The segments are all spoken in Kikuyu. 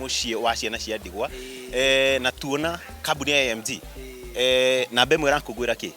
muciĩ wa ciana cia ndigwa eh, na tuona kambuni ya AMG eh, namba ĩmwe ĩrakũngwĩra kĩ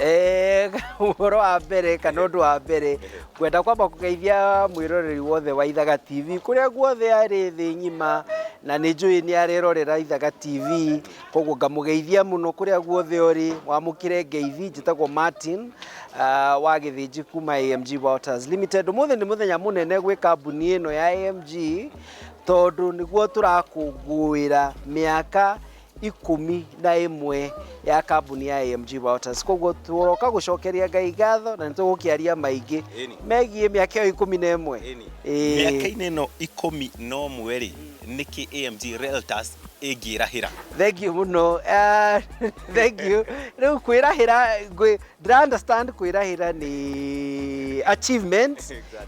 Eh, ũhoro wa mbere kana ũndũ wa mbere ngwenda kwamba kũgeithia mwĩroreri wothe wa ithaga tv kũrĩa guothe arĩ thĩ ng'ima na nĩ njũĩ nĩ arerorera ithaga tv koguo ngamũgeithia mũno kũrĩa guothe ũrĩ wamũkĩre ngeithi njĩtagwo martin ah, wa gĩthĩnji kuma amg waters limited ũmũthĩ nĩ mũthenya mũnene gwĩ kambuni ĩno ya amg tondũ nĩguo tũrakũngũĩra mĩaka ikũmi na ĩmwe ya kambuni ya AMG Motors koguo tũroka gũcokeria Ngai ngatho na nĩ tũgũkĩaria maingĩ Ĩni. megiĩ mĩaka ĩyo ikũmi na ĩmwe Ĩni. Ĩĩ. mĩaka-inĩ ĩno ikũmi na ũmwe rĩ nĩkĩ amg reltas ĩngĩrahĩra thengiũ mũno Ah, thengiũ rĩu kwĩrahĩra ngwĩ- Ndĩra understand kwĩrahĩra nĩ achievement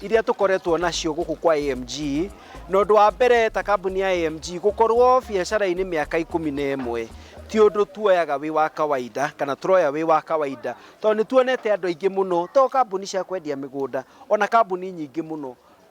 iria tũkoretwo nacio gũkũ kwa AMG na ũndũ wa mbere ta kambuni ya AMG gũkorwo biacara-inĩ mĩaka ikũmi na ĩmwe ti ũndũ tuoyaga wĩ wa kawaida kana tũroya wĩ wa kawaida tondũ nĩ tuonete andũ aingĩ mũno to kambuni cia kwendia mĩgũnda ona kambuni nyingĩ mũno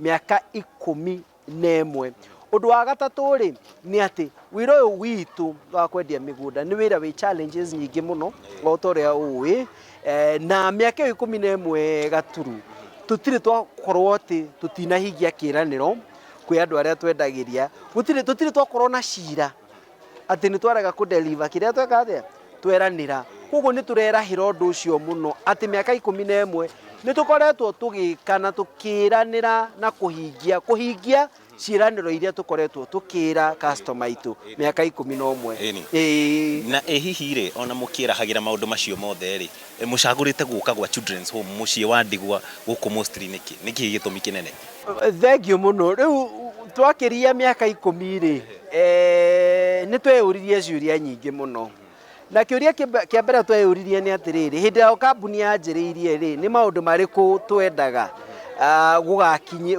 mĩaka ikũmi na ĩmwe ũndũ wa gatatũ rĩ nĩ atĩ wĩra ũyũ witũ wa kwendia mĩgũnda nĩ wĩra wĩ challenges nyingĩ mũno o ta ũrĩa ũĩ eh, na mĩaka ĩyo ikũmi na ĩmwe gaturu tũtirĩ twakorwo atĩ tũtinahingia kĩranĩro kwĩ andũ arĩa twendagĩria gũtirĩ tũtirĩ twakorwo na cira atĩ nĩ twarega kũ deliver kĩrĩa tweka atĩa tweranĩra koguo nĩ tũrerahĩra ũndũ ũcio mũno atĩ mĩaka ikũmi na ĩmwe nĩ tũkoretwo tũgĩka na tũkĩranĩra na kũhingia kũhingia ciĩranĩro iria tũkoretwo tũkĩra customer itũ mĩaka ikũmi na ũmwe Ĩni. Ĩĩ. na ĩ hihi rĩ ona mũkĩrahagĩra maũndũ macio mothe rĩ Mũcagũrĩte gũka gwa Children's Home mũciĩ wa ndigwa gũkũ Mostly nĩkĩ? Nĩ kĩĩ gĩtũmi kĩnene? Thengiũ mũno. Rĩu twakĩria mĩaka ikũmi rĩ, nĩ tweyũririe ciũria nyingĩ mũno. Na kĩũria kĩa mbere tweyũririe nĩ atĩrĩrĩ, hĩndĩ ĩrĩa kambuni yanjĩrĩirie rĩ, nĩ maũndũ marĩkũ twendaga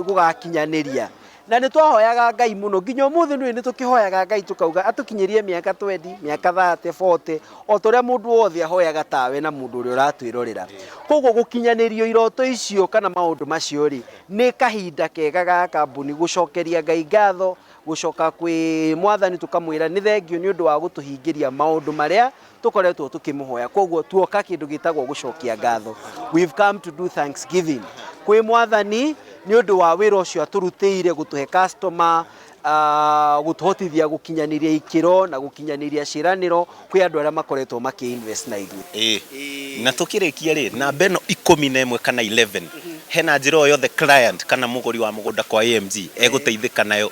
gũgakinyanĩria? Na nĩ twahoyaga Ngai mũno. Nginya ũmũthĩ nũĩ nĩ tũkĩhoyaga Ngai tũkauga atũkinyĩrie mĩaka twendi, mĩaka thate, bote, o ta ũrĩa mũndũ wothe ahoyaga ta we na mũndũ ũrĩa ũratwĩrorera. Kwoguo gũkinyanĩrio iroto icio kana maũndũ macio rĩ, nĩ kahinda kega ga kambuni gũcokeria Ngai ngatho, gũcoka kwĩ Mwathani tũkamwĩra nĩ thengiũ nĩ ũndũ wa gũtũhingĩria maũndũ marĩa Tũkoretwo tũkĩmũhoya, kwoguo tuoka kĩndũ gĩtagwo gũcokia ngatho. We've come to do thanksgiving kwĩ Mwathani nĩ ũndũ wa wĩra ũcio atũrutĩire gũtũhe customer, ah, gũtũhotithia gũkinyanĩria ikĩro na gũkinyanĩria ciĩranĩro kwĩ andũ arĩa makoretwo makĩ invest na ithuĩ. Ĩĩ. Na tũkĩrĩkia rĩ, namba ĩno ikũmi na ĩmwe kana 11, hena njĩra o yothe client kana mũgũri wa mũgũnda kwa AMG egũteithĩka nayo?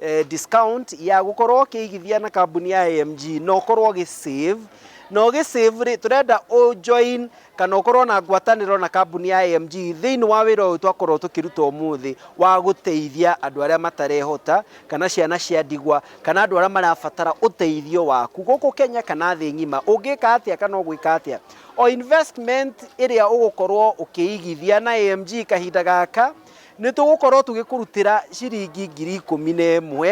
eh, discount ya gukorwo ukiigithia na kambuni ya AMG na ukorwo gi save na ugi save ri turenda u join kana ukorwo na ngwataniro na kambuni ya AMG thiini wa wira uyu twakorwo tukiruta umuthi wa guteithia andu aria matarehota kana ciana cia ndigwa kana andu aria marabatara uteithio waku guku Kenya kana thi ngima ungika atia kana ugwika atia o investment iria ugukorwo ukiigithia na AMG kahinda gaka Nĩ tũgũkorũo tũgĩkũrutĩra ciringi ngiri ikũmi na ĩmwe,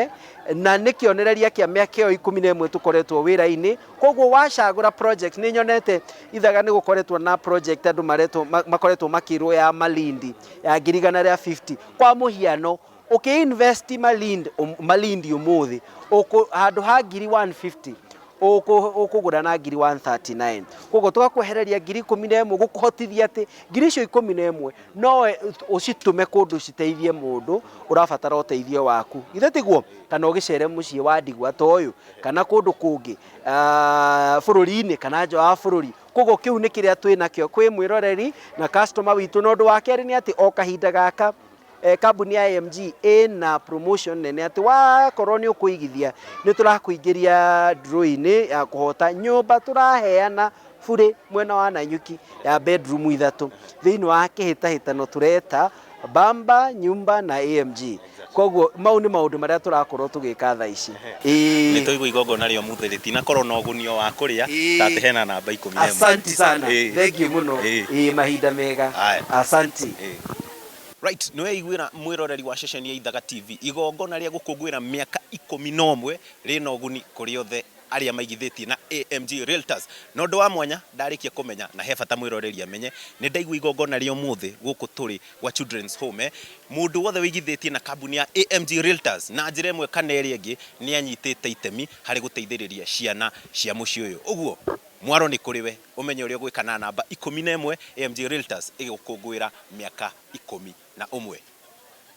na nĩ kĩonereria kĩa mĩaka ĩyo ikũmi na ĩmwe tũkoretwo wĩra-inĩ. Kwoguo wacagũra project, nĩ nyonete Ithaga nĩ gũkoretwo na project andũ maretwo, makoretwo makĩrwo ya Malindi, ya ngiri igana rĩa fifty. Kwa mũhiano, ũkĩ invest Malindi, Malindi ũmũthĩ, ũkũ, handũ ha ngiri one fifty, ũkũ- ũkũgũra na ngiri 139 koguo twakwehereria ngiri ikũmi na ĩmwe gũkũhotithia atĩ ngiri icio ikũmi na ĩmwe no e- ũcitũme kũndũ citeithie mũndũ ũrabatara ũteithio waku ithe tiguo kana ũgĩcere mũciĩ wa ndigwa ta ũyũ kana kũndũ kũngĩ ah, bũrũri-inĩ kana nja wa bũrũri koguo kĩu nĩ kĩrĩa twĩ nakĩo kwĩ mwĩroreri na customer witũ na ũndũ wa kerĩ nĩ atĩ o kahinda gaka Eh, kambuni ya AMG ĩna promotion nene atĩ wakorwo nĩ ũkũigithia nĩ tũrakũingĩria draw-inĩ ya kũhota nyũmba tũraheana burĩ mwena wa Nanyuki ya bedroom ithatũ thĩinĩ wa kĩhĩtahĩtano tũreta Bamba nyumba na AMG koguo mau nĩ maũndũ marĩa tũrakorwo tũgĩka thaa ici Ĩĩ. nä twaigua igongona rä omuthe rä tinakorwo na å guni o wa kå rä a Ĩĩ. ta atä hena namba ikå mi asanti sana Ĩĩ. thengiå må no Ĩĩ. Ĩĩ, mahinda mega Aya. asanti Ĩĩ. Wright nĩweiguĩra mwĩroreri wa ceceni ya Ithaga TV igongona rĩa gũkũngũĩra mĩaka ikũmi na ũmwe rĩna ũguni kũrĩ othe arĩa maigithĩtie na AMG Realtors. Na ũndũ wa mwanya ndarĩkia kũmenya na he bata mwĩroreri amenye, nĩndaigua igongona rĩa ũmũthĩ gũkũ tũrĩ gwa Children's Home, mũndũ wothe wĩigithĩtie na kambuni ya AMG Realtors na njĩra ĩmwe kana ĩrĩa ĩngĩ nĩanyitĩte itemi harĩ gũteithĩrĩria ciana cia mũciĩ ũyũ. Ũguo mwaro nĩ kũrĩ we. Ũmenye ũrĩa ũgwĩka na namba ikũmi na ĩmwe AMG Realtors ĩgĩgũkũngũĩra mĩaka ikũmi na ũmwe.